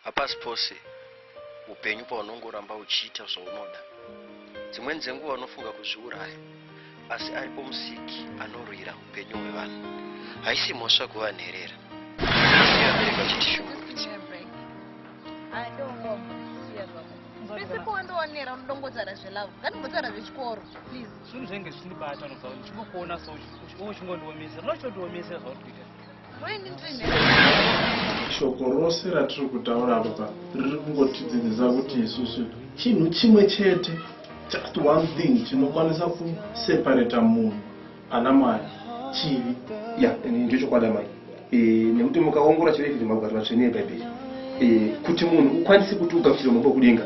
Hapasi pose upenyu paunongoramba uchiita zvaunoda. Dzimweni dzenguva unofunga kuzviuraya, asi aripo musiki anorwira upenyu hwevanhu. Haisi mhosva kuva nherera. Pese pawandoonera unoda kungotaura zvelove ngatimbotaura zvechikoro please. Zvinhu zvenge zvichindibatano zvawo ndichingokuona so uchingondiomesa unochondiomesa zvauri kuita shoko rose ratiri kutaura apa riri kungotidzidzisa kuti isusu chinhu chimwe chete just one thing chinokwanisa kuseparata munhu ana mwari chivi ya ndicho chokwadi amai e, nekuti mukaongora chirei kuti magwaro matsvene ebhaibheri e, kuti munhu ukwanise kuti ugamuchire mambo kudenga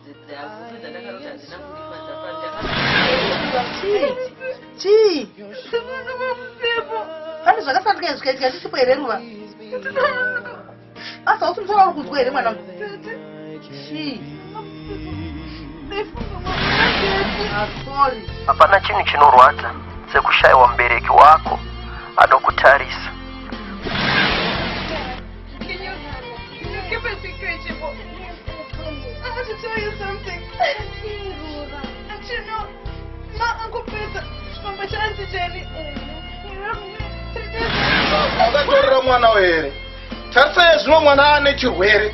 chii pane zvakasandika zvikaitika ndisipo here ruva asi hausi musoro uri kunzwa here mwana hapana chinhu chinorwadza sekushayiwa mubereki wako anokutarisa Akatorera mwana were? Tarisa yezvino mwana ane chirwere.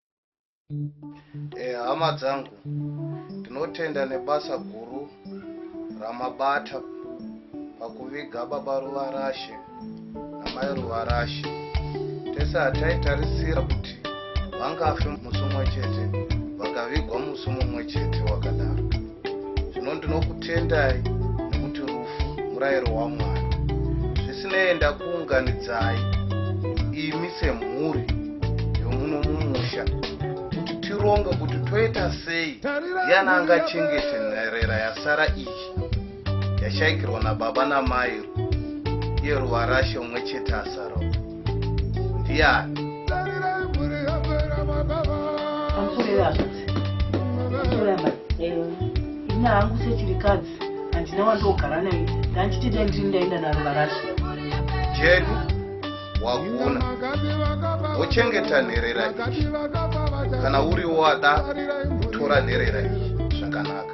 Eh, hama dzangu ndinotenda nebasa guru ramabata pakuviga baba ruvarashe namai ruvarashe tese hataitarisira kuti vangafe musi umwe chete vakavigwa musi mumwe chete wakadaro zvino ndinokutendai nekuti rufu murayiro wamwari zvisinei ndakuunganidzai imi semhuri yomuno mumusha kuti tironge kuti toita sei yana angachengete nherera yasara iyi yashaikirwa nababa namai yeruvarashe umwe chete asara ndiyani ina hangu sechirikadzi handina wandogara naye ndanchiti dai ndiri ndaenda naro varasha jedu wakuna wochengeta nherera iyi kana uri wada kutora nherera iyi zvakanaka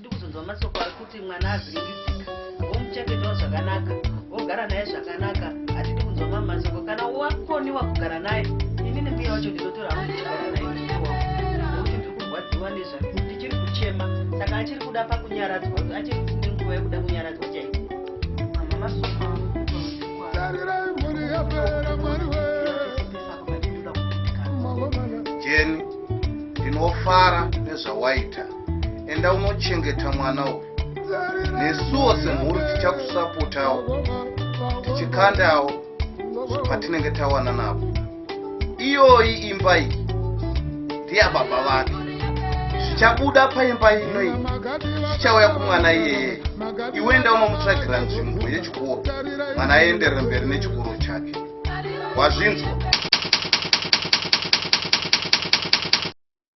ndikuzonzwa masoko ari kuti mwana avhiringisika womuchengetawo zvakanaka wogara naye zvakanaka hatidi kunzwa mamwe masoko kana wakoniwa kugara naye inini mbuya wacho ndinotora hangu ndichigara naye ndichiwa nekuti ndiri kurwadziwa nezvake ndichiri kuchema saka achiri kuda pakunyaradzwa achiri nenguva yekuda kunyaradzwa chaiko mama masoko tarirai mhuri yapera mwari we jeni ndinofara nezvawaita enda unochengeta mwana uyu nesuwo semhuri tichakusapotawo tichikandawo patinenge tawana navo iyoyi imba iyi ndiyababa vake zvichabuda paimba ino iyi zvichauya kumwana iyeye iwe enda unomutsvagira nzvimbo yechikoro mwana aenderere mberi nechikoro chake wazvinzwa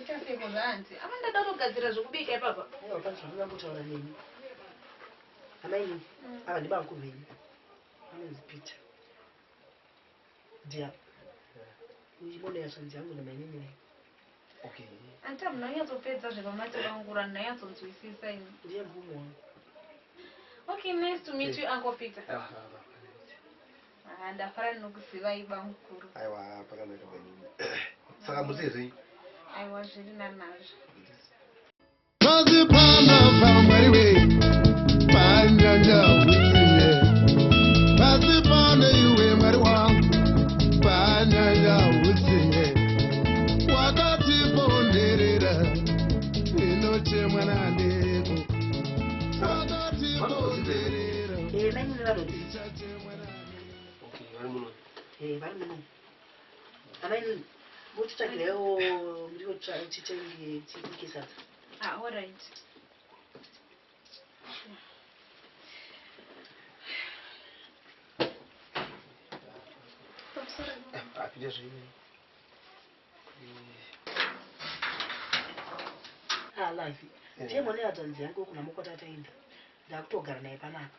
Ita seiko zvaanzi. Apa ndada kutogadzira zvekubika ipapa. Aiwa pati zvandinoda kutaura nemi. Amai nini, mm. ava ndibamkuru venyu. Anonzi Peter. Dear. Ndichibonda yashanzi yangu namainini venyu. Okay. Anti munonyatsopedza zvepamati vangu ranyatsonzwisisa ini. Ndiye mvumo wangu. Okay, nice to meet you Uncle Peter. Ah, ah, ah. Haa ndafara ndinokuzivai bamukuru. Aiwa pakanaka mainini. Saka musiri sei? Aiwa zviri nanazvo. Pazipana pamwari we panyanja usiye Pazipana iwe mwari wangu panyanja usiye Wakati ponderera inochemwa naneko Wakati ponderera Iye mainini vanodii? ndiye mwana yatanzi yangu kuna mukotatainda ndakutogara naye panapa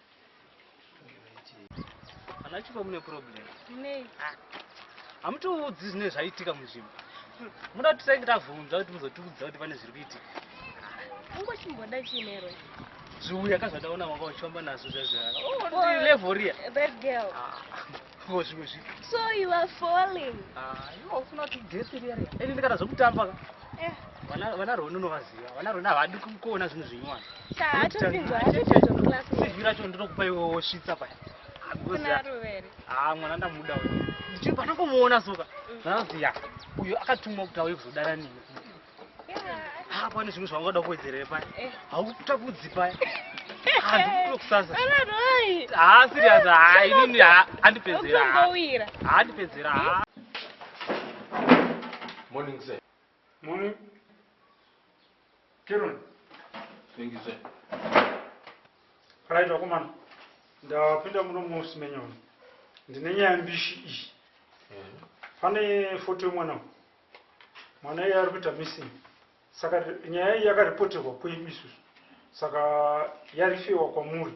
Ana Chipo mune problem. Nei? Ah. Hamutiudzi zvine zvaitika munzvimbo. Muda kuti tisange tavhunza kuti muzotiudza kuti pane zviri kuitika. Ungo chimboda chinero. Zviuya kazvataona wanga uchifamba nazvo zvazvara. Oh, level riya. That girl. Ah. ko zvimwe zvi so you are falling ah you ofuna kuti dress iri iri ini ndikada zvokutamba ka eh vana vana roni unovaziva vana roni havadi kuona zvinhu zvinywana sa atopinzwa atopinzwa class sivira cho ndinokupa iwe wosvitsa paya ah mwana ndamuda uyu ndichiri panokomuona soka mm. ndanoziya uyo akatumwa kuti auye kuzodana nini ha pane zvimwe zvaungada kuwedzerere paya eh. haukutapudzi paya handikutokusasa ha sirias ha inini handipedzera handipedzera ha morning sir morning kiron thank you sir right wakomana ndapinda muno muofisi menyoni ndine nyaya mbishi iyi eh. pane foto yemwana mwana iye ari kuita missing saka nyaya iyi yakaripoterwa kwedu isusu saka yarifewa kwamuri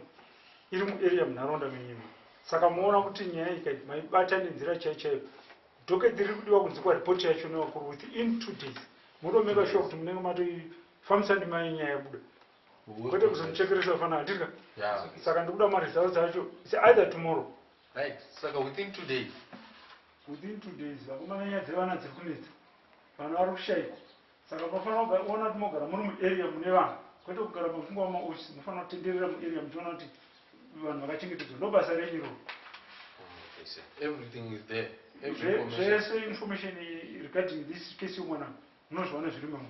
iri muarea munharaunda menyima saka moona kuti nyaya iyi kai maibata nenzira chai chaiyo dokedhi riri kudiwa kunzi kwaripoti yacho nevakuru with in two days motomeka shuwa kuti munenge matoifambisa ndima yenyaya yabuda kwete kuzomuchekeresa fana handika saka ndikuda maresults acho either tomorrow Right saka within two days. Within two days vakomana nyaya dzevana dziri kunetsa. Vana vari kushaikwa. Saka munofanira kugara ona kuti mogara muri muarea mune vanhu kwete kugara mafungwa mumaoffice munofanira kutenderera muarea muchiona kuti vanhu vakachengetedzwa ndobasa renyu iroro. Everything is there. Every information. Zvese information regarding this case yomwana munozviwana zviri mamu.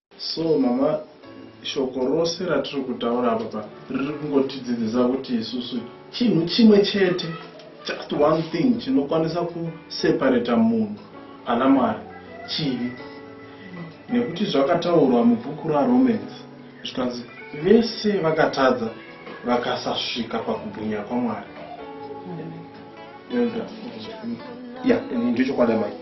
So mama shoko rose ratiri kutaura apa riri kungotidzidzisa kuti isusu chinhu chimwe chete just one thing chinokwanisa kuseparata munhu ana mwari chivi nekuti zvakataurwa mubhuku raromans zvikanzi vese vakatadza vakasasvika pakubwinya kwamwari ya ndichokwadi mai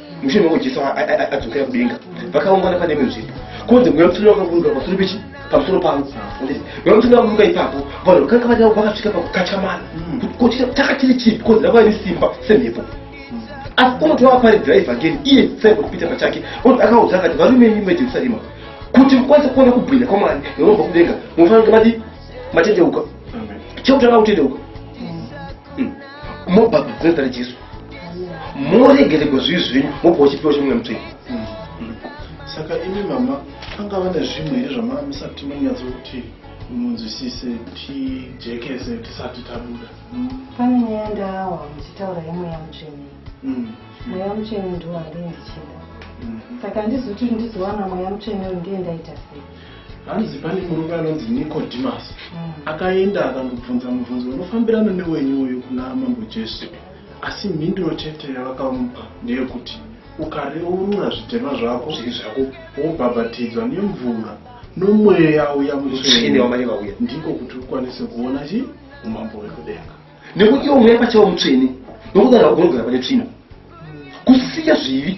mushure meko jesu adzokera kudenga vakaungana pane imwe nzvimbo kunze mweya mutsvene wakaburuka pasoro pechi pamusoro pavo mweya mutsvene wakaburuka ipapo vanhu vakanga vari avo vakasvika pakukachamana kochita taka chiri chipi kunze rava iri simba semhepo asi unoti wavaparidzira evhangeri iye simon peter pachake unoti akaudza akati varume imi vejerusarema kuti mukwanise kuona kubwinya kwamwari neunobva kudenga munofanira kuti mati matendeuka chekutanga kutendeuka mobhabhatidzana jesu moregeregwa zvivi zvenyu mobva uchipiwa chimwe mutsvei saka imi mama anga vane zvimwe here zvamanga musati manyatso kuti munzwisise tijekese tisati tabuda pane nyaya ndaawa muchitaura yemweya mutsvene mm. mweya mutsvene ndiwo andii ndichida mm-hmm. saka handizoti ndizowana mweya mutsvene uyu ndiye ndaita sei hanzi pane murume anonzi nicodemus mm. akaenda akanobvunza mubvunzo unofambirana newenyu uyu kuna mambo jesu asi mhinduro chete yavakamupa ndeyekuti ukareurura zvitema zvako zviri zvako wobhabhatidzwa nemvura nomweya uya mutsvene wamai vauya ndiko kuti ukwanise kuona chi umambo wekudenga nekuti iwo mweya pachawo mutsvene nokudaro unogara pane tsvina kusiya zvivi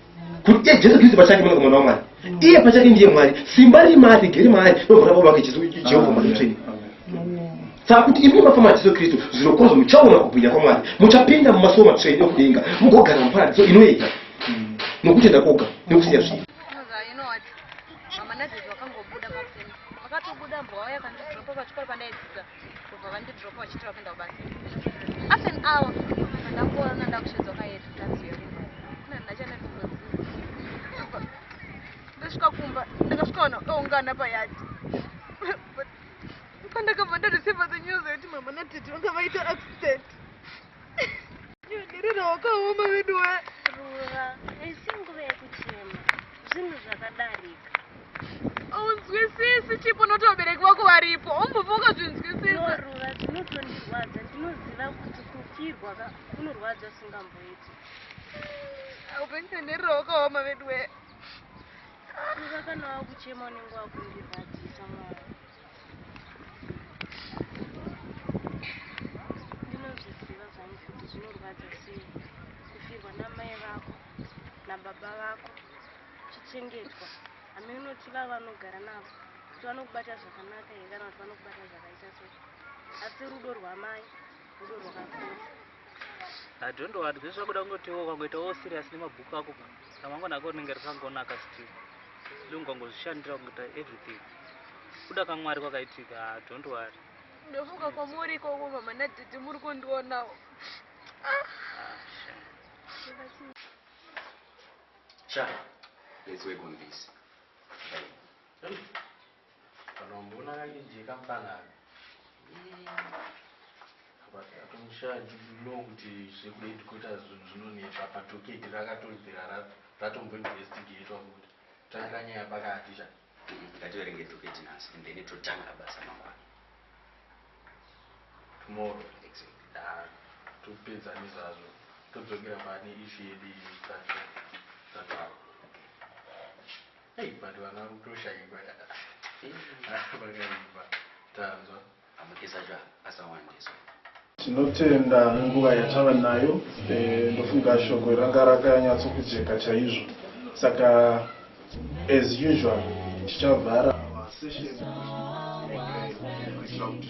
kuti iye jesu kristu pachake mwana komana wamwari iye pachake ndiye mwari simba riri maari rigere maari nomvura baba vake jehovha mwari mutsvene saka kuti imi mafamba jesu kristu zviro kwazvo muchaona kubwinya kwamwari muchapinda mumasuwo matsvene okudenga mugogara muparadiso inoyega nokutenda koga nokusiya zvinhu kubva vandidropa vachiti vapinda kubasa half an hour ndakuona ndakushedzwa kayedu tanzi yekumba kuna ndachana kungozi ndasvika kumba ndakasvika vanhu vakaungana payadi pandakabva ndareceiva the news yekuti mama natete vanga vaita accident Ndirira wakaoma vedu we. Rura, haisi nguva yekuchema. Zvinhu zvakadarika. Haunzwisisi chipo noti vabereki vako varipo. Umbobva ukazvinzwisisa. No, Rura, zvinotondirwadza. Ndinoziva kuti kufirwa ka kunorwadza usingamboiti. Haupenzi ndirira wakaoma vedu we. Rura kana wakuchema unenge wakundirwadzisa mwana. ndinozviziva zvangu kuti zvinorwadza sei kufirwa namai vako nababa vako chichengetwa hame unoti vava vanogara navo kuti vanokubata zvakanaka here kana kuti vanokubata zvakaita sei asi rudo rwamai rudo rwakakura Adhondo wadwe zvakuda kungoti iwe ukangoita wo serious nemabhuku ako ka ramangwana ako rinenge rikangonaka still ndi ungangozvishandira kungoita everything kuda kamwari kwakaitika ha don't worry ndomuka kwamuri ikoko mama nadhidhi muri kundionawo ah, cha let's work on this Kana wamboona kakajeka mfana aka. Atomushaya did you know kuti zvekuda headquarters zvinhu zvinonetsa apa tocket rakatobvira ratombo investigatewa futi. Tangira nyaya pakati sha. Ngativerenge tocket nhasi and then totanga basa mangwana. Tomorrow. Exactly. Haa topedza nezvazvo todzokera pane issue yedu iyi. That's all. That's all. Hey but vana kutoshaikwa yaa apa pakaipa tanzwa. Amukisa zva asawandiswa. Tinotenda nenguva yatava nayo ndofunga shoko iri ranga rakanyatso kujeka chaizvo saka as usual tichavhara masession kuitira kuti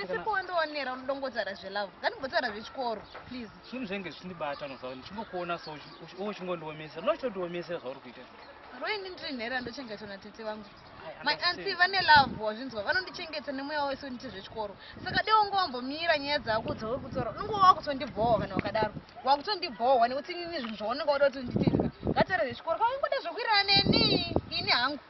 Pesipo wandionera unodongotaura zvelove ngatimbotaura zvechikoro please zvinhu zvenge zvichindibata unoziva ndichingokuona so uchingondiomesera unoda kutondiomesera zvauri kuita roini ndiri nhera ndochengetwa natete vangu my anti vane love wazvinzwa vanondichengeta nemweya wese unite zvechikoro saka deo unge wambomira nyaya dzako dzauri kutora unenge wakutondibhohwa kana wakadaro wakutondibhohwa nekuti inini zvinhu zvaunenge wada kuti nditizva ngatare zvechikoro kwaungoda zvekuirana neni ini hangu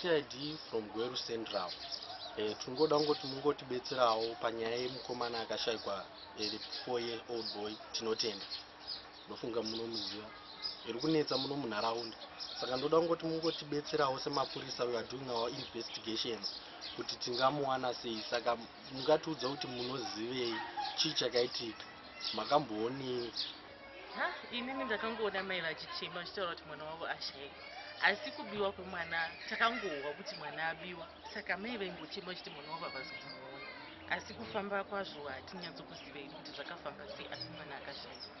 cid from gweru central eh, tingoda kungoti mungotibetserawo panyaya yemukomana akashaikwa iri eh, four year old boy tinotenda ndofunga munomuziva iri kunetsa muno munharaunda saka ndoda kungoti mungotibetserawo semapurisa weare doing our investigations kuti tingamuwana sei saka mungatiudza kuti munozivei chii chakaitika makamboonei ha inini ndakangoona mai vachichema vachitaura kuti mwana wavo ashaiwa asi kubiwa kwemwana takangohwa kuti mwana abiwa saka mai vaimbochema vachiti mwana wavo havazi kumuona asi kufamba kwazvo hatinyatso kuzivei kuti zvakafamba sei asi mwana akashaiwa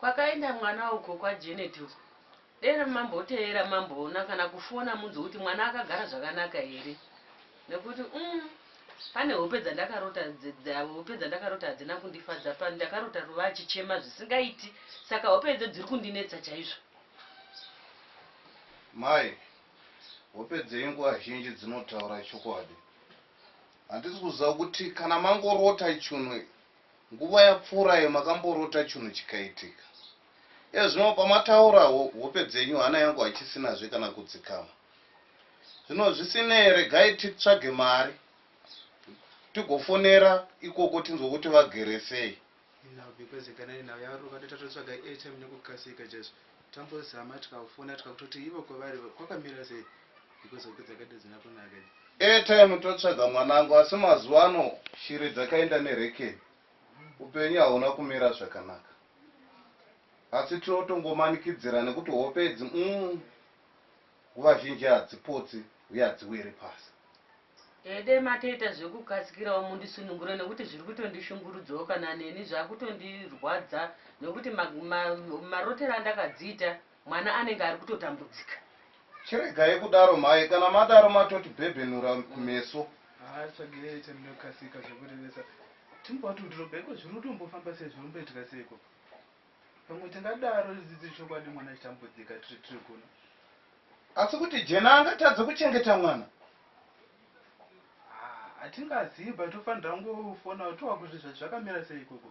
Kwakaenda mwana uko kwa Janet uko. Dera mamboteera mamboona kana kufona munzwe kuti mwana akagara zvakanaka here nekuti umm pane hope dzandakarota hope dzandakarota hadzina kundifadza pano ndakarota Ruva achichema zvisingaiti saka hope idzo dziri kundinetsa chaizvo. Mai, hope dzenyu nguva zhinji dzinotaura chokwadi. Handisi kuziva kuti kana mangorota chunhu Nguva yapfuurayo makamborota chunhu chikaitika. Ezvino pamataura hope dzenyu hana yangu hachisinazve kana kudzikama. Zvino zvisinei regai titsvage mari tigofonera ikoko tinzwe kuti vagere sei. Nhau because ikanani nhau yaruka ndotatotsvaga airtime nekukasika chaizvo. Tambozama tikafona tikakutoti ivo kwavari kwakamira sei. Because hope dzakaita dzina kunaka idzi. Airtime totsvaga mwanangu asi mazuva ano shiri dzakaenda nerekeni. Upenyu hauna kumira zvakanaka. Asi tinotongomanikidzira nekuti hope idzi umm nguva zhinji hadzipotsi uye hadziwiri pasi. Ehe dai matoita zvekukasikirawo mundisunungure nekuti zviri kutondishungurudzawo kana neni zvakutondirwadza nekuti ma, ma, marotero andakadziita Mwana anenge ari kutotambudzika. Chiregai kudaro mhai kana madaro matoti bhebhenura kumeso. Haa tsvagei aite munokasika zvekurevesa timbwa kuti udhiroba iko zviri utombofamba sei zviri umboitika sei ikoko pamwe tingadaro ridzidzi chokwadi mwana achitambudzika tiri tiri kuno asi kuti jena angatadze kuchengeta mwana hatingazivi but ufanira kungofona utiwa kuti zvakamira sei ikoko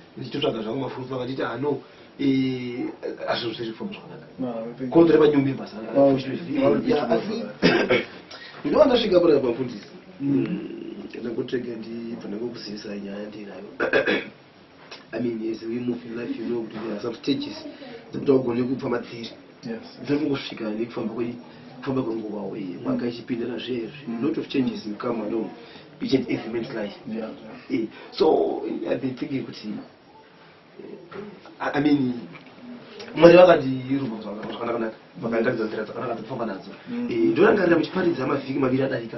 ndichitotsvaga zvangu mafufu vakanditi ano azvinosezvifamba zvakanaka kodzore manyumbi basa asi ndinova ndasvika pana mafundisi ndakutega ndibva ndakokuzivisa nyaya ndinayo i mean as we move in life you know kuti there are some stages dzekuti augone kupfa madziri zvaku kusvika nekufamba kwe kufamba kwenguva uye mwaka ichipindira zvezvi mm. lot of changes will come along each and every man's life yeah. yeah. so i've been thinking kuti i mean mwari vakandirumba zvakanaka naka vakandiratidza nzira dzakanaka dzekufamba nadzo mm. eh, ndorangarira muchiparidza mavhiki maviri adarika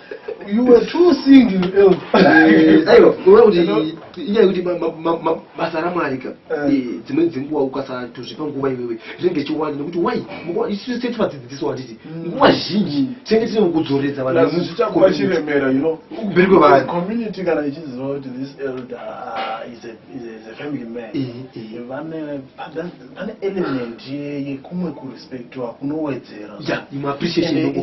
You were too single, Elf. Eh, aiwa, kuona kuti inyaya yekuti basa ramwari ka eh. eh, dzimweni dzenguva ukasatozvipa nguva iwewe zvinenge ichiwanda nekuti wai isu tese tivadzidziso handiti mm. nguva zhinji tinenge tine kudzoredza vanhuzvichakuachiremera kumberi kwevanhucommunity kana ichiziva kuti this elder ah, is a family man vane pane element yekumwe kurespectiwa kunowedzera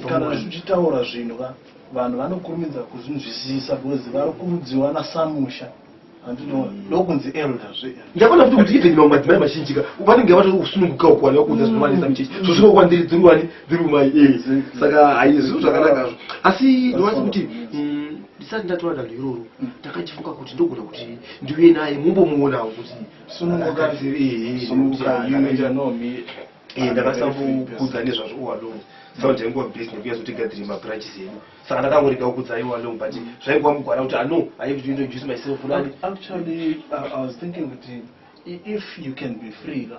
kana zvichitaura zvinhu ka vanhu vanokurumidza kuzvinzwisisa because vari kurudziwa nasamusha ndokunzi mm. elder zve ndakaona kuti kuti even mamwe madzimai mazhinji ka vanenge vatoti kusununguka uku vana vakuudza zvinovanetsa mm. muchechi so zvinokuwa ndiri dziri wani dziri kumai e eh. saka hayi zvinhu zvakanakazvo asi ndovati kuti mm, ndisati ndatora danho iroro ndakachifunga kuti ndogona kuti ndiuye naye mumbomuonawo kuti sununguka zviri sununguka you may know me eh ndakasakukudza nezvazvo uwalo saka ndaingowa busy nekuya zotigadzire mabranches edu saka ndakangorega kukudza iwo along but zvaingowa mugwara kuti ano i have to introduce myself fulani actually uh, i was thinking kuti if you can be free la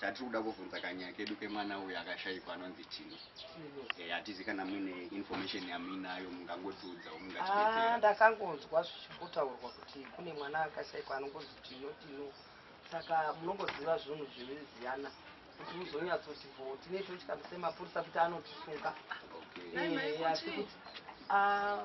Tatiri kuda kuvhunza kanyaya kedu kemwana uyu akashaikwa anonzi Tino. Eh, hatizi kana muine information yamuinayo mungangotiudzawo Ah, mungatibetsera. ndakangonzwa zvichimbotaurwa kuti kune mwana akashaikwa anongozi tino tino saka munongoziva zvinhu zveveziyana kuti muzonyatsoti bvo tine totya semapurisa kuti anotisunga Okay. Ehe, asi kuti ah,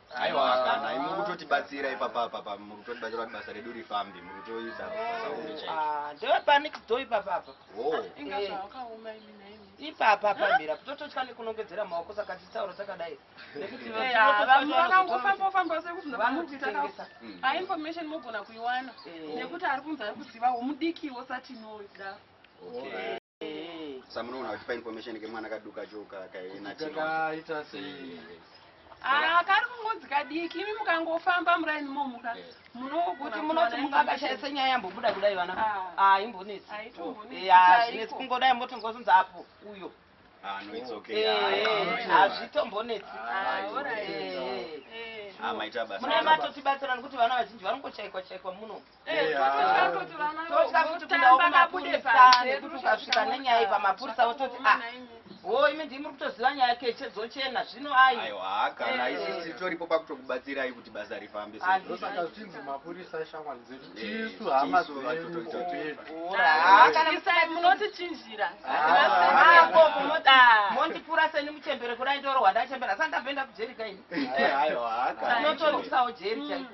Aiwa kana imwe kutotibatsira ipapa papa muri kutotibatsira kuti basa redu rifambe muri kutoisa sauri chaicho. Ah, ndeve panic do ipapa apa. Oh. Eh. Inga zvawakaoma imi naimi. Ipapa pambira kutototya nekunongedzera maoko saka titaura takadai. Nekuti eh, ah, vanhu vakangofamba famba sekuti vanoti takasa. Hmm. Ah information mogona kuiwana eh. nekuti ari kunzi ari kuziva womudikiwo satinoda. Okay. samunoona vachipa information kemwana kaduka choka kaenatikaita sei ah, kari kungozi kadiki imi mukangofamba muraini momuka kuti munoti mukakashaisa nyaya yambobuda kudai vana ah. ah, imbonetsi zvinetsi kungodai moti ngozunza apo uyo hazvitombonetsi mune matotibatsirani kuti vana vazhinji vanongochaikwa chaikwa muno totya futi kuda kumapurisa nekuti ukasvika nenyaya iyi pamapurisa wototi a ah, wo imi ndii muri kutoziva nyaya keche dzochena zvino aiwakana eh. isisi toripo pakutokubatsirai kuti basa rifambe saka zvichinzi mapurisa ishamwari dzedu eh, tisu hama dzeduakanamisai munotichinjira mondipura seni muchembere kudai ndorohwa ndachembera sandapenda kujerika ini eh, tinotorisawo jeri chaiko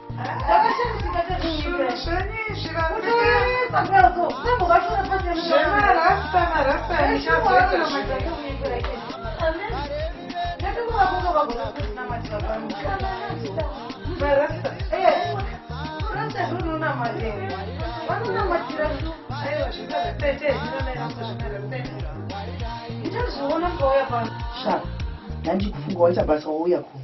Sha, ndandikufunga wacha basa wauya kuno.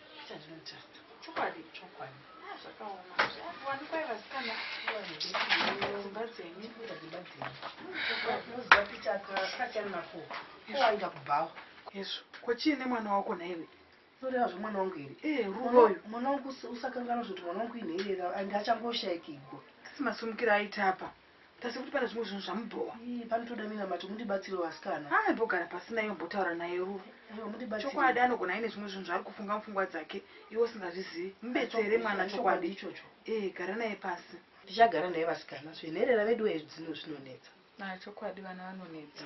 ko chii nemwana wako nhaiwe noreva zvemwana wangu here eh, ruroyo mwana wangu usakanganwa zvoti mwana wangu inherera and achangoshaikigwa asi masumukiro aita apa But asi kuti pane zvimwe zvinhu zvamubhowa. Ii panotoda minamato mundibatsirewo vasikana. Ah imbogara pasi naye umbotaura naye Rue. Aiwa mundibatsire. Chokwadi anogona aine zvimwe zvinhu zvaari kufunga mupfungwa dzake iwe usingazvizivi. Mubetsere mwana chokwadi. Ichocho. Eh gara naye pasi. Ndichagara naye vasikana. Zvenherera veduwe zvinhu zvinonetsa. Ah chokwadi vana vanonetsa.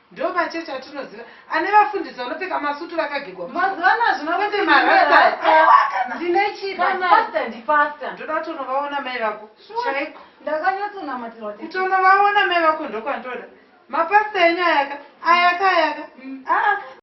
Ndo machechi atinoziva ane vafundisi vanopfeka masutu vakagigwa mazivana hazvina kuti marasta ndine chida pastor ndi pastor ndoda kuti unovaona mai vako chaiko ndakanyatsonamatirwa kuti unovaona mai vako ndokwandoda mapastor enyu ayaka ayaka ayaka mm. ah, ah.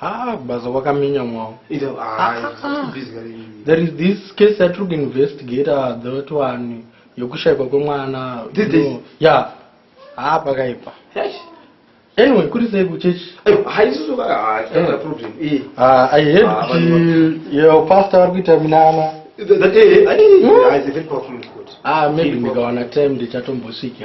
haa basa wakaminyamwawo there is this case yatiri kuinvestigata that one yokushaikwa kwemwana ya haa pakaipa anyway kuri sei kuchechi aihead kuti yo pastor vari kuita minana maybe ndikawana time ndichatombosviki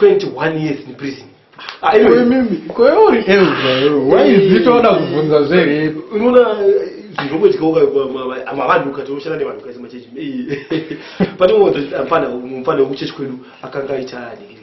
21 years in prison ah, koyorizvitoda eh, kubvunza zverepi unoona zvinongoitikaavanhu ukatoshanda nevanhu kaisa machechi panoona kuti mfana wekuchechi kwedu akanga aita digiri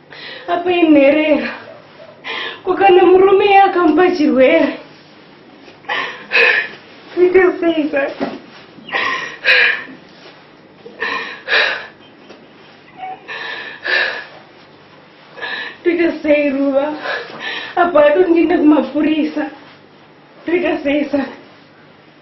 apa inherera kukana murume ye akamupa chirwere ita sei saka toita sei ruva apa atondienda kumapurisa toita sei saka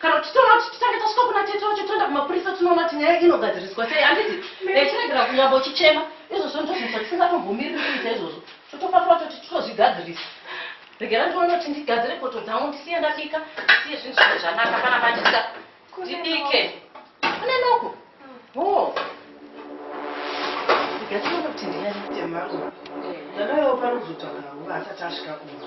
kana kuti toona kuti titange tasvika kuna tete wacho toenda kumapurisa tinoona kuti nyaya inogadziriswa sei handiti eh, chiregera kunyamba uchichema izvozvo ndozvinzwa tisingatombomiri kuita izvozvo totofatwa toti totozvigadzirisa regera ndione kuti ndigadzire poto dzangu ndisiye ndabika ndisiye zvinhu zvine zvanaka pana machisa ndibike kune noko o oh. regera tinoona kuti ndiyaitemangu ndadaiwo panozotaura nguva asati asvika kuma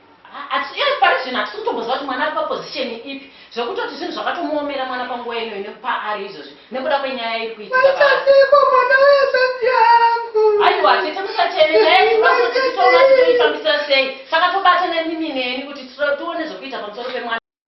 parizvino hatisi kutomboziva kuti mwana ari paposition ipi zvekutoti zvinhu zvakatomuomera mwana panguva ino ine paari izvozvi nekuda kwenyaya iri kuitikaaiko mwana wesati yangu aiwa tete musacheme nyaya titoona titoifambisa sei saka tobata nemimi neni kuti tione zvekuita pamusoro pemwana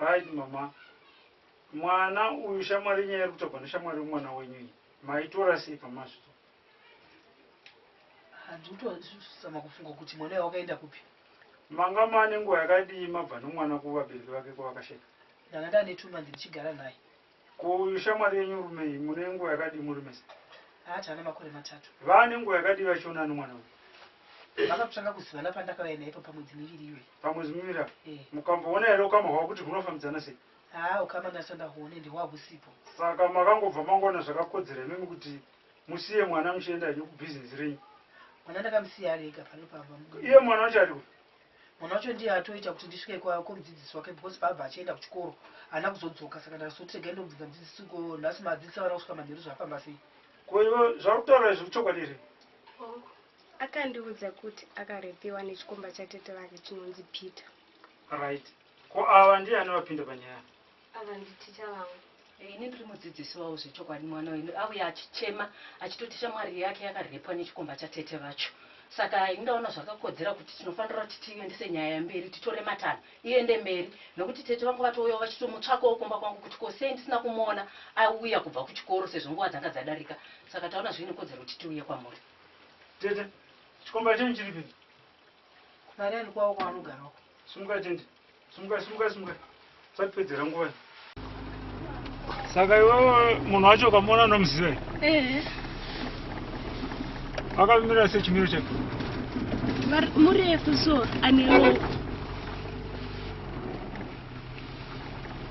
Right mama. Mwana uyu shamwari inyaya iri kutogwa neshamwari yemwana wenyu iyi. Maitora sei pamazvito? Handikutozama kufunga kuti mwana uyu wakaenda kupi. Manga maane nguva yakadii mabva nomwana kuvabereki vake kwavakasheka? Ndanga ndane two months ndichigara naye. Ko uyu shamwari yenyu Rumei mune nguva yakadii muri mese? Haa tava nemakore matatu. Vaa nenguva yakadii vachionana nomwana uyu? Vava kutanga kuzivana pandakauya naye ipa pamwedzi miviri iyoyi. Pamwedzi miviri apa? Ehe. Mukamboona here ukama hwavo kuti hunofambidzana sei? Haa ukama ndasati ndahuona ende hwaa husipo. Saka makangobva mangoona zvakakodzera imimi kuti musiye mwana muchienda henyu kubhizinesi renyu? Mwana ndakamusiya ari ega pano pamba mudumbu. Iye mwana wacho ari kupi? Mwana wacho ndiye atoita kuti ndisvike kwa kumudzidzisi wake because paabva achienda kuchikoro haana kuzodzoka saka ndakazoti regai ndobvunza mudzidzisi ko nhasi madzidzisi vana kusvika manheru zvafamba sei. Ko iwe zvauri kutaura izvi kuchokwadi here? Hongu. Akandiudza kuti akarepiwa nechikomba chatete vake chinonzi Peter. Right. Ko ava ndiani vapinda panyaya? Ava nditicha vangu. Ini ndiri mudzidzisi wavo zvechokwadi mwana wenyu auya achichema achitoti shamwari yake yakarepwa nechikomba chatete vacho saka ini ndaona zvakakodzera kuti tinofanira kuti tiendese nyaya mberi titore matanho iende mberi nokuti tete vangu vatouyawo vachitomutsvakawo kumba kwangu kuti ko sei ndisina kumuona auya kubva kuchikoro sezvo nguva dzanga dzadarika saka taona zviine kodzero kuti tiuye kwamuri tete chikomba chenyu chiripi kupareni kwavo kwaanogara uko simuka tende Simukai, simukai, simukai. Satipedzera nguva iyi. Saka iwewe munhu wacho ukamuona unomuziva here? Ehe. Akamira sei chimiro chake? Var- Murefu so ane ropa.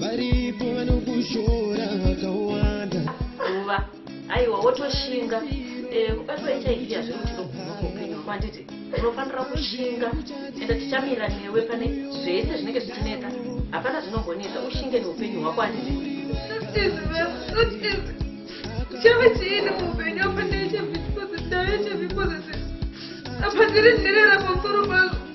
varipo vanokushora vakawanda uva aiwa wotoshinga eh, kubatwa hiv hazviri kuti ndokunokuupenyu hwako handiti unofanira kushinga enda tichamira newe pane zvese zvinenge zvichinetsa hapana zvinongonetsa ushinge neupenyu hwako handiti chave chiini muupenyu apa ndaichevikozi ndaichevikozi apa ndiri nherera pamusoro pazvo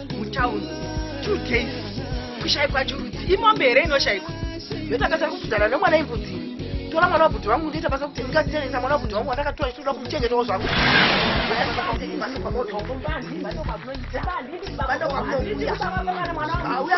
mutown two days kushaikwa churudzi imombe here inoshaikwa yotakasa kudzana nemwana imbudzi tora mwana wabhuti vangu ndoita basa kuti ndikasiyanisa mwana wabhuti vangu wandakatora ndichitoda kumuchengetawo zvangu auya